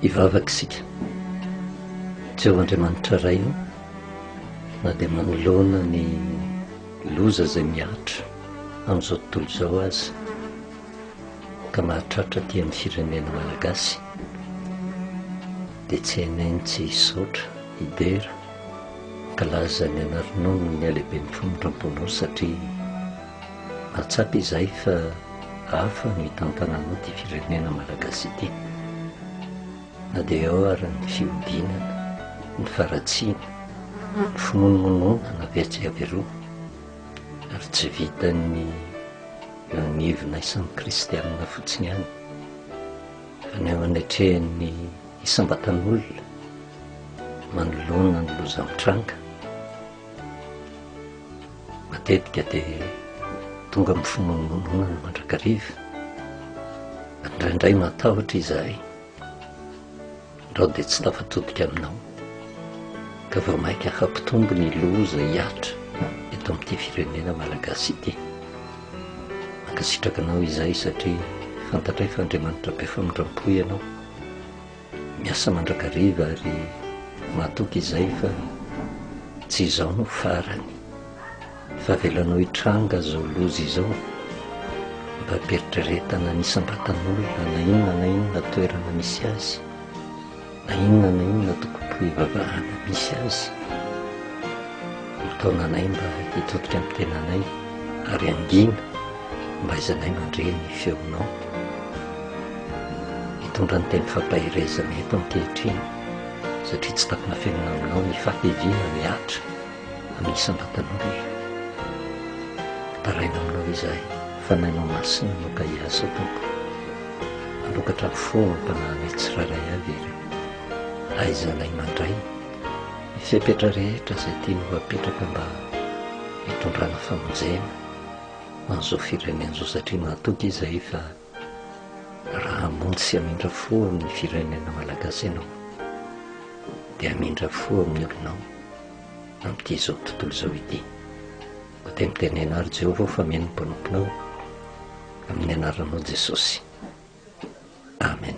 ivavaka isika jeo andriamanitra ray o na dia manoloana ny loza izay miatra amin'izao tontolo izao azy ka mahatratra aty amin'ny firenena malagasy dia cnn tsy hisaotra hidera kalaza ny anaronony ny alehiben'ny famindramponao satria mahatsapa izahay fa hafa no hitantananao ity firenena malagasy ity na dia ao ary ny fihodinana ny faratsiana ny fimonomononana avy atsy avy eroa ary tsy vitan'ny Nagnevina isan'ny kristianina fotsiny ihany fa ny ao anatrehan'ny isam-batan'olona manoloana ny loza mitranga, matetika dia tonga amin'ny fimonomononana mandrakariva. Indraindray matahotra izahay. Izaho dia tsy tafatotika aminao ka vao mainka hampitombo ny loza hihatra eto amin'ity firenena malagasy ity. Mankasitraka anao izay satria fantatray fa Andriamanitra be famindram-po ianao. Miasa mandrakariva ary mahatoky izay fa tsy izaho no farany. fa avelanao hitranga izao loza izao mba ampieritrieretana ny isam-batan'olona na inona na inona toerana misy azy na inona na inona tokopo hivavahana misy azy mitaona anay mba hitodika amin'ny tenanay ary angina mba izanay mandre ny feonao hitondra ny teny fampaherezana eto ankehitriny satria tsy tapina fenina aminao ny fateviana ny atra amin'ny isam-batan'olombelona. Taraina aminao izahay fa nainao masina no ka hiasa, Tompo. Mamokatra fahompananay tsirairay avy Ianao. Ahaizanay mandray ny fepetra rehetra izay tianao apetraka mba hitondrana famonjena ho an'izao firenena izao satria mahatoky izahay fa Raha hamonjy sy hamindra fo amin'ny firenena malagasy ianao dia hamindra fo amin'ny olonao amin'ity izao tontolo izao ity. Koa dia mitenena ary Jehovah fa mino ny mpanomponao amin'ny anaranao Jesosy. Amen.